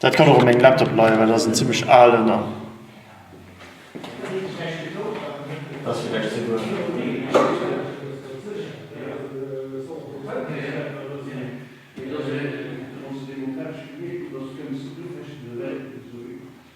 Daat kann och un mengem Laptop leien, well dat ass en zimmlech aalen an.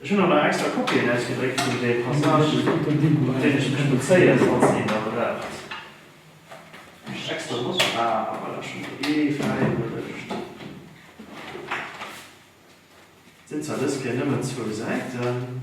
Ech hunn awer extra Kopien ausgedréckt vun de Passagen, mat deenen ech mech bezéien, falls een der braucht. Et sinn zwar dës Kéier nëmmen zwou Säiten.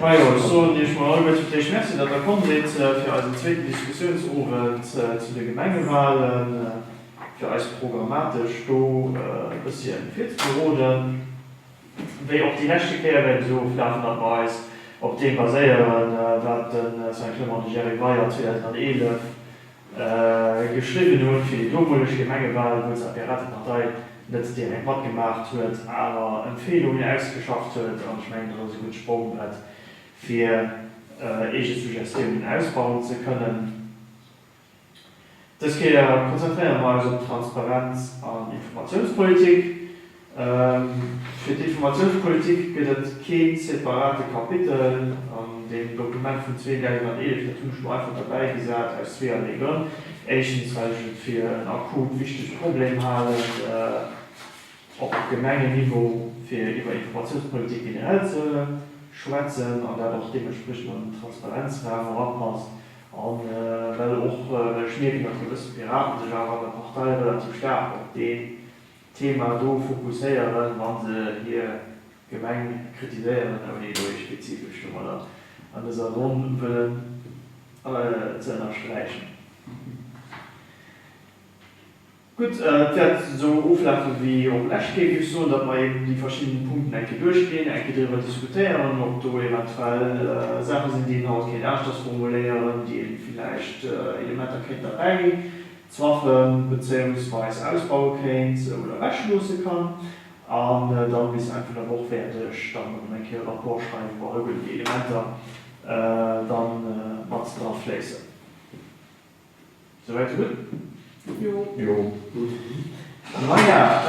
Majo, ech soen Iech mol alleguer fir d'éischt Merci, datt Der komm sidd fir eisen zweeten Diskussiounsowend zu de Gemengewalen, fir eis programmatesch do e bëssche virzeberoden. Wéi och déi leschte Kéier wäert et esou oflafen, datt mer eis op deem baséieren, wat de Saint-Clement de Gérivay an 2011, geschriwwen hunn, fir déi domoleg Gemengewal, wou zwar d'Piratepartei net direkt matgemaacht huet, awer Empfeelungen ausgeschafft huet, an ech mengen, dat ass e gutt Sprongbrett, fir eege Suggestiounen ausbauen ze kënnen. Dës Kéier konzentréiere mer eis op d'Transparenz an Informatiounspolitik. Fir d'Informatiounspolitik gëtt et kee separate Kapitel an deem Dokument vun 2011. Dat hunn ech do einfach derbäi gesat aus zweeërlee Grënn. Éischtens, well ech et fir en akut wichtege Problem halen, op Gemengenniveau fir iwwer Informatiounspolitik generell ze schwätzen an dat och deementspriechend an den Transparenzraam erapasst an well och, well ech mierken, datt e bësse Piraten sech awer an der Partei relativ staark op dee Thema do fokusséieren, wa se hir Gemeng kritiséieren, ouni elo ee spezifescht Numm oder an dëser Ronn wëllen ze ënnersträichen. Gutt, et wäert esou oflafe wéi och lescht Kéier, géif ech soen, datt mer eben déi verschidden Punkten eng Kéier duerchginn, eng Kéier driwwer diskutéieren, ob do eventuell Saache sinn, déi een haut kéint aneschters formuléieren, déi ee villäicht Elementer kéint derbäi Saachen bezéiungsweis ausbaue kéint oder wech loosse kann an dann bis Enn vun der Woch wäert ech dann erëm eng Kéier e Rapport schreiwen, wou all gëllen déi Elementer dann mat dra fléissen. Souwäit sou gutt? Jo. Jo. Gutt. Maja,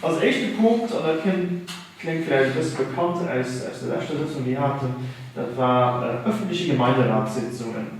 als éischte Punkt, an dat kénnt, kléngt vläicht e bësse bekannt aus aus der leschter Sëtzung déi haten, dat war ëffentliche Gemeinderatssitzungen.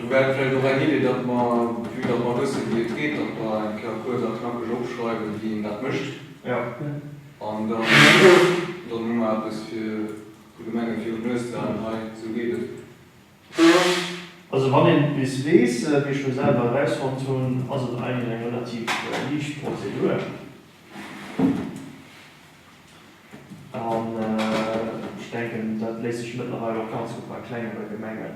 Do wär et vläicht och eng Idee, datt mer, vue datt mer wësse wéi et geet, datt mer eng Kéier kuerz a knackeg opschreiwen, wéi een dat mécht. An dann, dann hu mer eppes fir vun de Menge virun d'Nues ze halen, hei, esou geet et. Also wann een et bis weess, wéi ech lo selwer erausfonnt hunn, ass et eigentlech eng relativ liicht Prozedur. An ech denken, dat léisst sech mëttlerweil och ganz gutt bei klengere Gemengen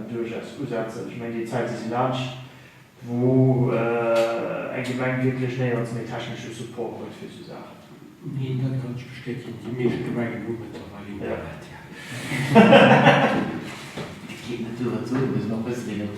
duerchaus usetzen. Ech mengen, déi Zäite si laanscht, wou eng Gemeng wierklech néierens méi technesche Support huet fir esou Saachen. Neen, dat kann ech bestätigen, déi meescht Gemengen hu mëttlerweil Internet, jo. Et geet net duer, et soe mir se nach, wësst Dir net,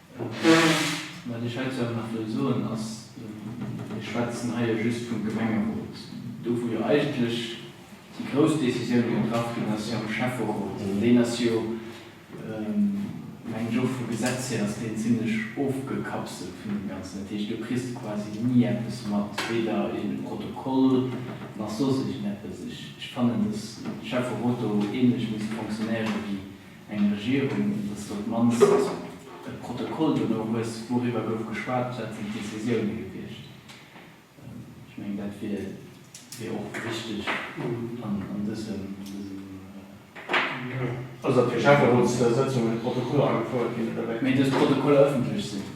Wat ech heizou awer nach wëll soen ass, Mir schwätzen hei jo just vum Gemengerot, do wou jo eigentlech déi grouss Décisioune getraff ginn ass jo am Schäfferot. An deen ass jo, mengen ech, och vum Gesetz hir ass deen zimlech ofgekapselt vun deem Ganzen. Dat heescht, do kriss de quasi ni eppes mat, weder ee Protokoll nach soss iergendeppes. Ech fannen, datt de Schäfferot do ähnlech misst fonctionnéiere wéi Eng Regierung, datt s de op d'mannst e Protokoll dono hues, wouriwwer gouf geschwat, wat sinn d'Decisioune gewiescht. Ech mengen, dat wier och wichteg an dësem. Also datt fir Schäfferotssëtzungen Protokoller agefouert ginn, oder wéi? Dës Protokoller ëffentlech sinn.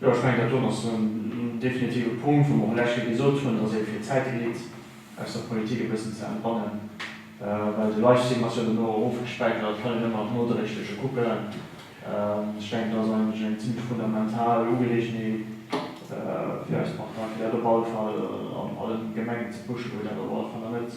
Jo, ech mengen, dat doen ass en definitive Punkt, wou mer och lech Jee gesot hunn, dass ee fir d'Zäit elit aus der Politik e bëssen ze entbannen, well de Livestream ass jo dono ofgespäichert a dat kann een ëmmer nach nodréiglech kucken. Ech denken, dat ass eigentlech eng zimmlech fundamental Ugeleegenheet fir eis Partei, fir dat op alle Fall an allen Gemengen ze pushen, wou dat op alle Fall nach net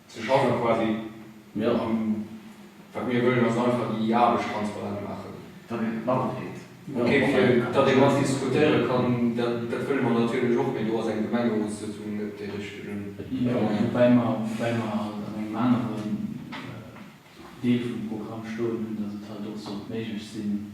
Ze schaffen quasi. Jo. An wat mir wëllen ass einfach déi Aarbecht transparent maachen. Datt een et matkritt. Ok, fir datt ee mat diskutéiere kann, dat wëlle mer natierlech och, mee do ass eng Gemengerotssëtzung net dee richtegen Moment. Woubäi mer, woubäi mer halt an engem aneren Deel vum Programm stoen hunn, datt et halt och sollt méiglech sinn,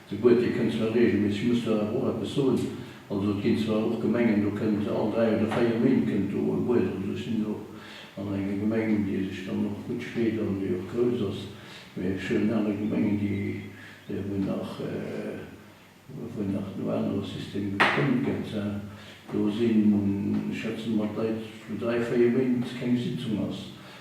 De Boitier kënnt zwar reegelméisseg, muss do awer och eppes soen. Also et ginn zwar och Gemengen, do kënnt all dräi oder véier Méint kënnt do e Buet. Also ech sinn do och an enger Gemeng, déi sech dann och gutt freet an déi och grouss ass. Mä ech huelen aner Gemengen, déi, wou nach, wou nach no anere Systeme gestëmmt gëtt, hein. Do sinn, schätzen mer, d'Leit, wou dräi, véier Méint keng Sitzung ass.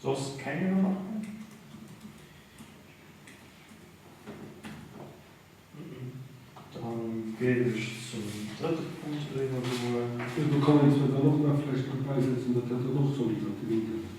Soss keng Remarken? Dann géif ech zum drëtte Punkt eriwwergoen. Ech wollt och nach vläicht bäisetzen, datt dat dann och solidaritéit ass.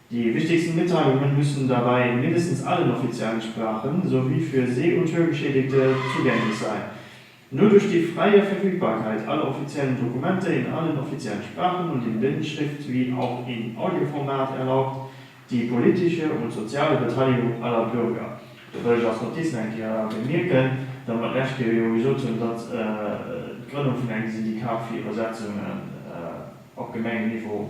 Die wichtigsten Mitteilungen müssen dabei in mindestens allen offiziellen Sprachen sowie für See und Hörgeschädigte zugänglich sein. Nur durch die freie Verfügbarkeit aller offiziellen Dokumente in allen offiziellen Sprachen und in Blindschrift wie auch in Audioformat erlaubt die politische und soziale Beteiligung aller Bürger. Do wëll ech als Notiz nach eng Kéier bemierken, datt mer d'lescht Kéier jo gesot hunn, datt d'Grënnung vun engem Syndikat fir Iwwersetzungen op Gemengenniveau,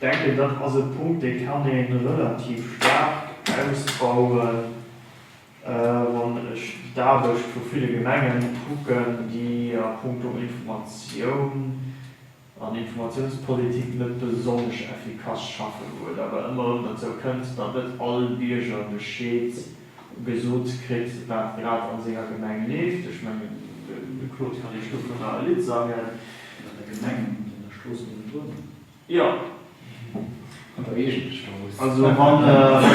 Ech denken, dat ass e Punkt, dee kann ee relativ staark ausbauen, wann ech d'Aarbecht vu ville Gemengen kucken, déi a puncto Informatioun an Informatiounspolitik net besonnesch effikass schaffen, wou et awer ëmmer erëm derzou kënnt, datt net all Bierger Bescheed. gesot kritt, wat grad a senger Gemeng leeft. Ech mengen, de Claude kann Iech dovunner e Lidd sangen. An der Gemeng an an der Strooss niewendrun? Jo. An der eegener Strooss. Also wann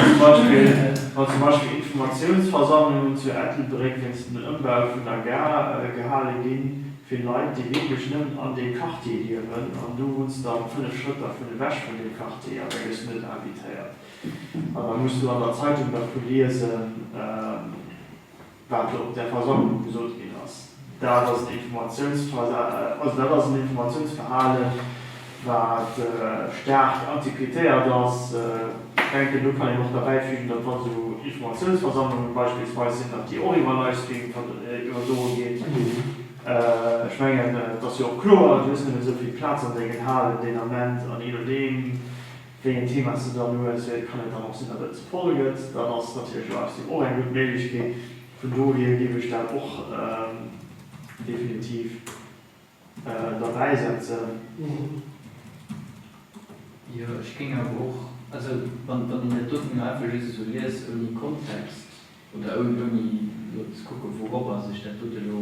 zum Beispill, wann zum Beispill Informatiounsversammlungen zu Ettelbréck wéinst dem Ëmbau vun der Gare gehale gi fir Leit, déi wierklech nëmmen an deem Quartier liewen, an du wunns dann fënnef Schrëtt dervun ewech vun deem Quartier, da gëss du net invitéiert. An da muss du an der Zeitung dervu liesen, wat op där Versammlung gesot ginn ass. Dat ass en Informatiounsverhalen, wat staark antiquétéiert ass. Ech denken, do kann een och derbäifügen, datt, wa sou Informatiounsversammlungen beispillsweis sinn, datt déi och iwwer Livestream iwwerdroe ginn. Ech mengen, et ass jo och kloer, du hues nëmme esou vill Plaz an sengen Halen deen Ament, an je nodeem, wéi en Thema se dann huet, wéi et kann et dann och sinn, datt et voll gëtt, dann ass natierlech Livestream och eng gutt Méiglechkeet. Vun dohier géif ech dat och definitiv derbäi setzen. Jo, ech géing awer och, also wann een dat doten elo einfach just esou liest ouni Kontext oder ouni elo ze kucken, wourobber sech dat dote elo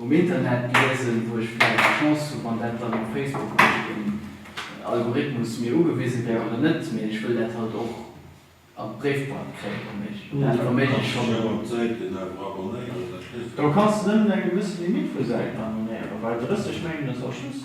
Um Internet liesen, wou ech vläicht d'Chance hu wann dat dann op Facebook duerch den Algorithmus mir ugewise wär oder net, mee ech wëll dat halt och an d'Bréifboîte kréien. Dat verméige ech schonn elo. Do kanns de nëmmen eng gewësse Limite vu Säiten abonnéieren, well 30 mengen ech ass just.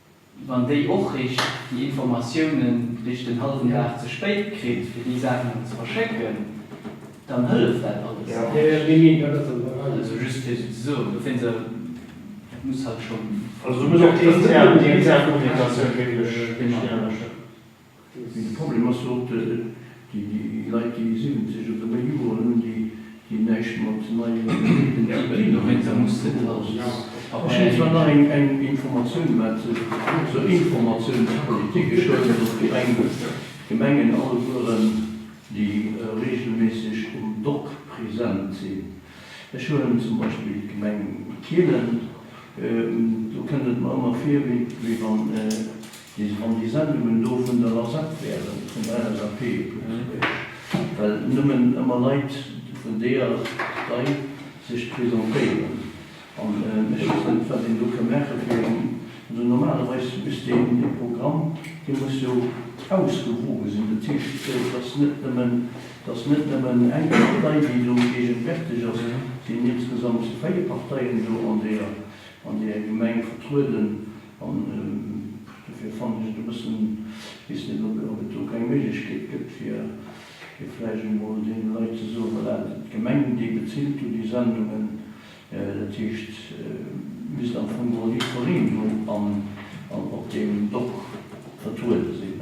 Wann déi och richt déi Informatiounen richt den halwen Dag ze spéit kritt, fir déi Saachen erëm ze verschécken, dann hëlleft dat alles näischt. Also just fir esou ze soen, dofir se, dat muss halt schonn. Also do muss och déi intern Kommunikatioun wierklech richteg anescht sinn. Mee de Problem ass jo och, déi Leit, déi 70 oder méi Joren hunn, déi näischt mat neie Gemengen ze dinn hunn. Ech hätt zwar nach eng Informatioun, mä zur Informatiounspolitik, Ech soen, datt déi eng Gemengen allegueren, déi reegelméisseg um Dock present sinn, ech huelen zum Beispill d'Gemeng Kielen, do kënnt et mer ëmmer vir, wéi wann, Mee wann déi Sendungen do vun der LSAP wären, vun der LSAP Lëtzebuerg, well nëmmen ëmmer Leit vun deeër Partei sech presentéieren an ech weess net wat een do ka maache fir en, also normalerweis misst een dee Programm, dee muss jo ausgewoge sinn, dat heescht et ass net nëmmen, et ass net nëmmen eng Partei déi do gegenwärteg ass, et sinn insgesamt véier Parteien do an deeër, an deeër Gemeng vertrueden. An dofir fannen ech et e bëssen, ech weess net, ob et do keng Méiglechkeet gëtt, fir vläicht emol deene Leit ze soen, Voilà, d'Gemengen, déi bezilt do déi Sendungen, dat heescht, misst am Fong och Lidd fir Reen do op deem Dock vertruede sinn.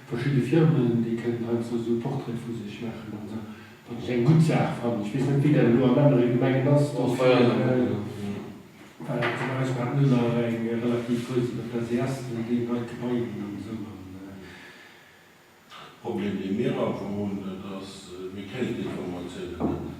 Verschidde Firmen, déi kënnen heiansdo esou Portraite vu sech maachen an esou, wat ech eng gutt Saach fannen. Ech weess net, wéi dat elo an anere Gemengen ass. Dofir war dat fir eis Bad Müller eng relativ grouss iwwert d'SES, wëll déi neit Gebaier hunn an esou an. De Problem, dee mir awer hunn, dat ass, mir kréien d'Informatiounen net.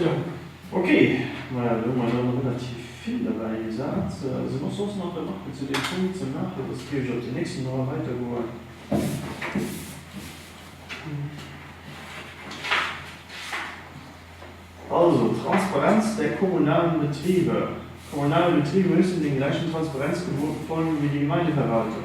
Jo, ok. Maja, do hu mer jo relativ vill derbäi gesat. Sinn och soss nach Remarken zu deem Punkt ze maachen? Soss géif ech op den nächsten Droit weidergoen. Also, Transparenz der kommunalen Betriebe. Kommunale Betriebe müssen den gläichen Transparenzgeboten folgen wie die Gemeindeverwaltung.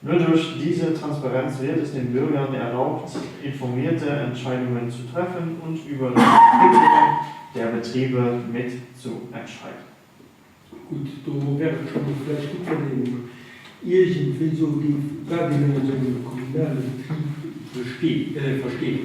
Nur durch diese Transparenz wird es den Bürgern erlaubt, informierte Entscheidungen zu treffen und über die Entwicklung der Betriebe mit zu entscheiden. Gutt, do wär et scho vläicht gutt, wann een iergendwéi soe géif, wat een ënner esou engem kommunale Betrib versteet.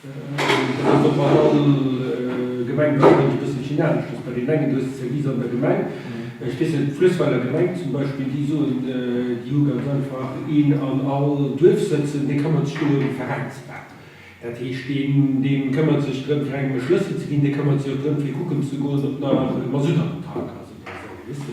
An op all Gemeng gëtt et e bëssen Chinalesches. Bei deenen engen, du hues d'Servicer an der Gemeng, ech weess net, d'Fluessweiler Gemeng zum Beispill, déi soen, déi hu ganz einfach een an all Duerf sëtzen, dee këmmert sech do ëm d'Veräinsfraen. Dat heescht, deen, dee këmmert sech drëm, fir engem e Schlëssel ze ginn, dee këmmert sech och drëm, fir kucken ze goen, ob nach Masutt an den Tank ass oder esou, weess de.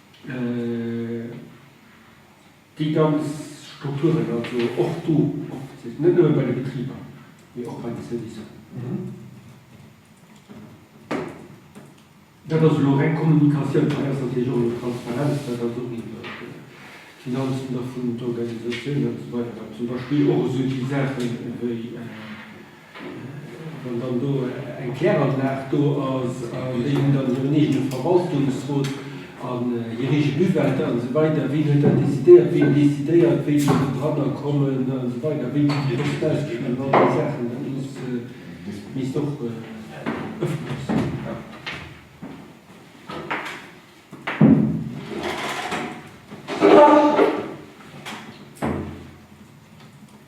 Déi ganz Strukturen, also och do, net nëmme bei de Betriber, mee och bei de Servicer. Dat ass elo reng Kommunikatioun. Hei ass natierlech och elo Transparenz, dat ass och iwwert d'Finanzen ervun, d'Organisatioun an esou weider, wat zum Beispill och esou déi Saachen ewéi. Wann dann do eng Kläranlag do ass an déi hunn dann hiren eegene Verwaltungsrot a hir eege Buwätter an esou weider, wien huet dat decidéiert, wien decidéiert wéi vill do dranner kommen an esou weider, wéi vill déi Post ausginn an all déi Saachen, dat muss misst och ëffentlech sinn.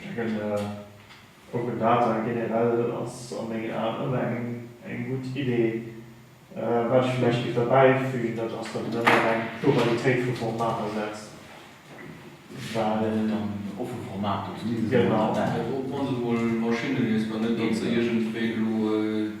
Mengen Open Data generell ass a mengen Aen ëmmer eng gutt Idee. Wat ech vläicht géif derbäi fügen, dat ass, datt een ëmmer op eng Pluralitéit vu Formater setzt, well. Datt et dann offe Formater sinn, déi sech ëmmer änneren. Genau. Op onse mol Maschinne nees, mä net datt se iergendwéi elo.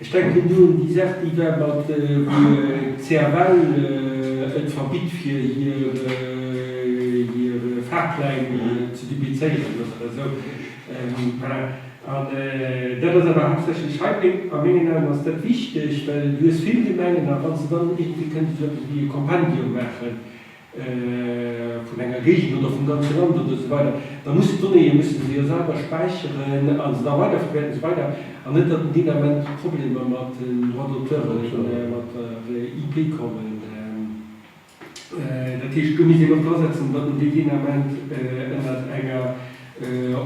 Ech denken do un déi Saach, déi war mat, wou d'CFL et verbitt fir hir Fahrpläin ze duplizéieren oder esou. Voilà. An dat ass awer haaptsächlech hei, a mengen Aen ass dat wichteg, well du hues vill Gemengen, a wann se dann iergendwéi kënnte sou eppes wéi e Kompendium maachen, vun enger Géigend oder vum ganze Land oder esou weider, da mussen d'Donnéeë musse se jo selwer späicheren a se da weiderverwäerten esou weider an net datt deen Ament Problemer mat den Droits d'auteuren, mat der IP kommen. Dat heescht, do misst een och dra setzen, datt en déi deen Ament ënnert enger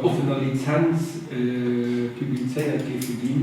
offener Lizenz publizéiert géife ginn.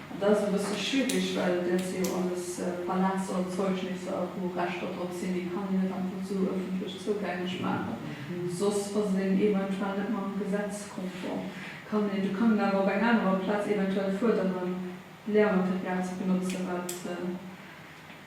Dat ass e bësse schwierig, well dat si jo alles Palazerzeugnisser, wou Rechter drop sinn. Déi kann een net einfach esou ëffentlech zougänglech maachen, soss ass een eventuell net mam Gesetz konform. Kann een, du kann een awer op eng anerer Plaz eventuell fuerderen, d'Lehrmaterial ze benotzen, wat.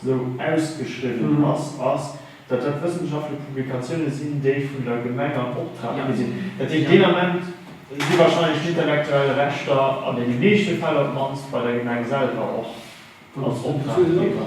esou ausgeschriwwen ass, ass, datt dat wëssenschaftlech Publikatioune sinn, déi vun der Gemeng am Optrag gi sinn. Dat heescht, deen Ament si wahrscheinlech d'intellektuell Rechter an deene meeschte Fäll op d'mannst bei der Gemeng selwer och als Optraggeber.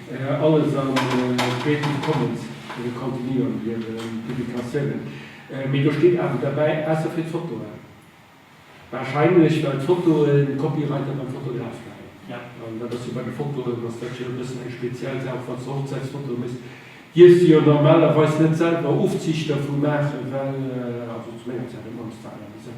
Alles an Creative Commons Kontinuum hir Publikatiounen. Mee do steet awer derbäi, ausser fir d'Fotoen. Warscheinlech well d'Fotoe Copyright dann beim Fotograf läit. An dat ass jo bei de Fotoen ass dat jo e bëssen eng speziell Saach, falls de Hochzäitsfotoe méchs, dierfs de jo normalerweis net selwer Ofziichter vu maachen, well, also zu menger Zäit am Mannesdall, awer esou.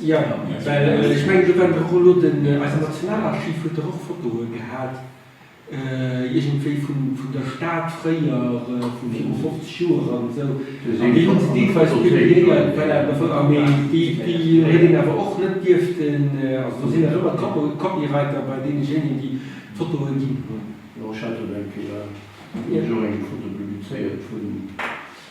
Jo, well ech mengen, do wäert och elo den, eisen Nationalarchiv huet der och Fotoe gehat, iergendwéi vun der Stad fréier, vu viru 50 Joer an esou. An déi hu se deelweis publiéiert. Voilà, ma voilà, mee déi huet een awer och net dierften, also do sinn nach ëmmer d'Copyrighter bei deenegeenen, déi d'Fotoe ginn hunn. Jo, ech hat do, mengen ech, jo eng Foto publizéiert vun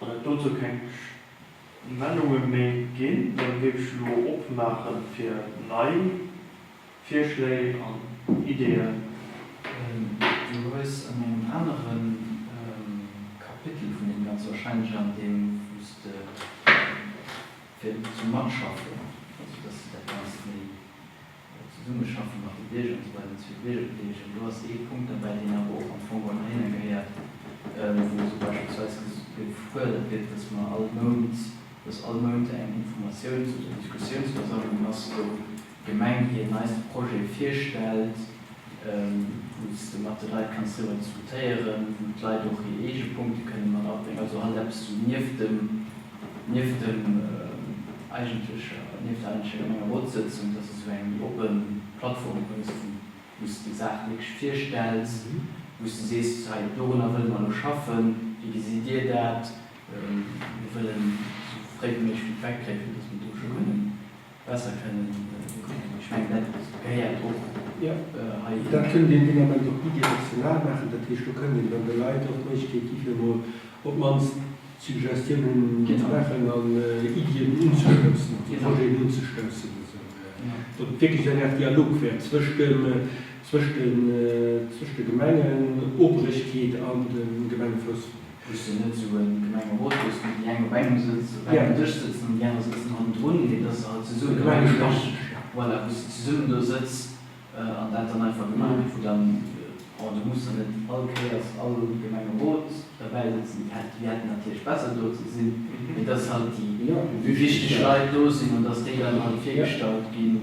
Wann et dozou keng Stellungnahme méi ginn, dann géif ech elo opmaache fir nei Virschléi an Ideeën. Du hues an engem anere Kapitel vun deem Ganze, wahrscheinlech an deem, wou s de fir zum Matschaffe, also dass de dat Ganzt méi, Dat Zesummeschaffen mat de Bierger, an esou weider, zu der Biergerbedeelegung, do ass ee Punkt derbäi, deen awer och am Fong ënner hinne gehéiert, wou esou beispillsweis gefuerdert gëtt, dass mer all Mount, dass all Mount eng Informatiouns oder Diskussiounsversammlung ass, wou d'Gemeng hir neiste Projete virstellt, wou s de mat de Leit kanns driwwer diskutéieren, wou d'Leit och hir eege Punkte kënne mat abréngen, also halt eppes esou nieft dem. Nieft der eigentlecher Gemengerotsëtzung, dass et esou eng méi oppe Plattform gëtt, wou s de déi Saach wierklech virstells, wou s de sees, hei dorunner wëlle mer elo schaffen, wéi gesitt Dir dat? Mir wëllen esou fréi wéi méiglech Feedback kréien, fir dass mir do scho kënnen. Besser kënnen kucken. Ech mengen, dat gehéiert och hei hin. Dat kënnt een deen Ament och bidirektional maachen. Dat heescht, do kënnt een dann de Leit och d'Méiglechkeet gi fir emol op d'mannst Suggestiounen ze maachen an Iddien unzestoussen, also Projeten unzestoussen, datt et wierklech eng Aart Dialog wäert zwëscht de Gemengen, Obrechkeet an de Gemengefoussgänger. Hues de net sou en Gemengerot wous de déi eng op engem Sëtz, op engem Dësch sëtzen an déi aner sëtzen hannendrun, mee dass se halt zesummen do eng Gemeng, voilà, wous de zesummen do sëtz an dat dann einfach gemaach gëtt, wou dann, bon, do muss dann net all Kéiers all Gemengerot derbäi sëtzen, déi hätt, déi hätten natierlech besser do ze sinn, mee dass halt déi wichteg Leit do sinn an dass déi dann halt virgestallt ginn.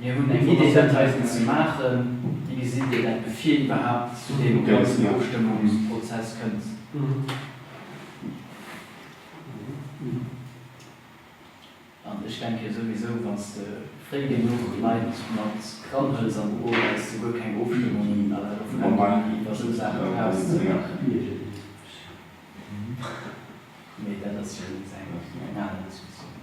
Mir hunn eng Idee dat heiten ze maachen. Wéi gesitt Dir dat bevir iwwerhaapt zu deem ganzen Ofstëmmungsprozess kënnt? An ech denke souwisou, wann s de fréi genuch Leit mat ranhuels an d'Buch, wells de guer keng Ofstëmmung à la Referendum iwwer esou Saache brauchs ze maachen. Mee dat ass jo eng aner Diskussioun.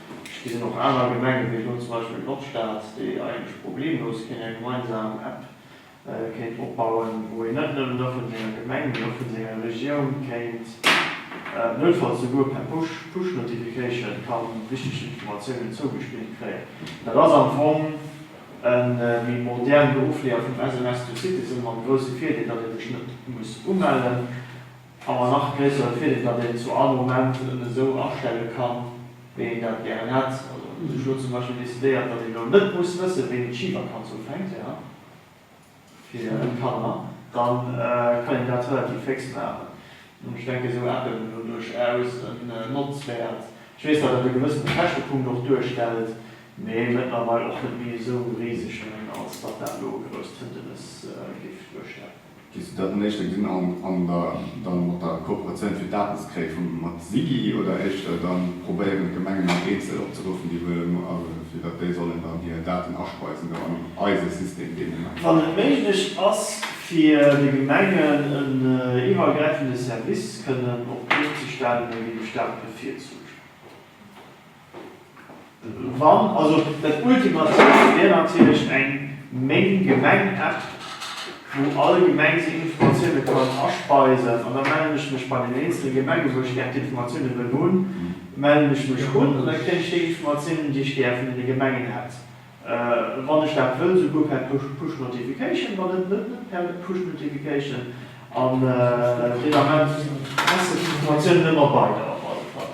Et ginn och aner Gemengen, wéi elo zum Beispill d'Nordstad, déi eigentlech problemlos kéint eng gemeinsam App kéint opbauen, wou een net nëmmen da vun senger Gemeng, mee och vun senger Regioun kéint noutfalls souguer per Push Notification ka wichteg Informatiounen zougespillt kréien. Dat ass am Fong e méi moderne Ofleeër vum SMS to Citizen, mam grousse Virdeel, datt ee sech net muss umellen. A ma nach gréissere Virdeel, datt een zu all Moment en esou astelle kann, wéi een dat gären hätt. Also hu sech elo zum Beispill decidéiert, datt een elo net muss wëssen, wéini d'Schivakanz ufänkt fir d'Kanner. Da kann een dat relativ féx maachen. An ech denken, esou Appen hunn elo duerchaus en Notzwäert. Ech weess, datt dat e gewëssene Käschtepunkt och duerstellt, mee mëttlerweil och net méi esou riseg, mengen, als datt dat elo e grousst Hëndenes géif duerstellen. Géifs du dat dann éischter gesinn an der dann mat der Kooperatioun fir d'Aarbechtskréifung mat SIGI oder éischter dann probéieren d'Gemengen an eenzel opzeruffen déi wëlle fir datt déi sollen dann hir Daten aspeisen do an eise System deen Ament? Wann et méiglech ass fir de Gemengen en iwwergräifende Service kënnen op d'Been ze stellen, da géif ech dat bevirzuegen. Wann, also dat ultimativt wär natierlech eng Meng Gemeng App, wou all Gemeng seng Informatioune kann aspeisen. An da mellen ech mech bei den eenzele Gemenge wou ech gär d'Informatioune wëll hunn, mellen ech mech un an da kréien ech déi Informatiounen déi ech gär vun deene Gemengen hätt, wann ech dat wëll, souguer per Push Notification, wann net net per Push Notification. An deen Ament passen d'Informatiounen ëmmer bei der op alle Fall.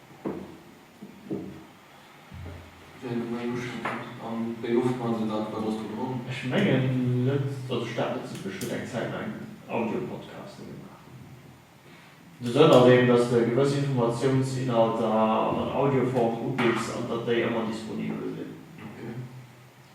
Ech mengen net dass ech dat net soot. Ech huet eng Zäit laang Audiopodcasten gemaach. De Sënn ass eben dass de gewëss Informatiouns-Inhalter an Audioform ubidds an datt déi ëmmer disponibel sinn.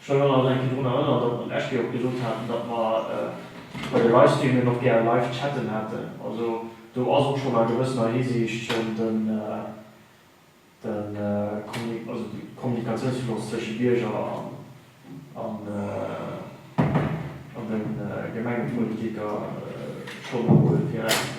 Ech hunn elo nach eng Kéier drun erënnert, datt mer d'lescht Kéier och gesot haten, datt mer bei de Livestreamen och gär live chatten hätten. Also do ass och schonn a gewëssener Hisiicht schonn de Kommunikatiounsfloss tësche Bierger an de Gemengepolitiker schonn emol direkt.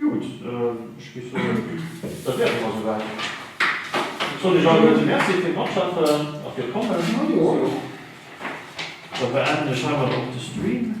Gutt, ech géif soen, dat wär et awer souwäit. Et soll Iech alleguerte Merci fir d'Matschaffen a fir d'Kommen. Da beenden ech heimat och de Stream.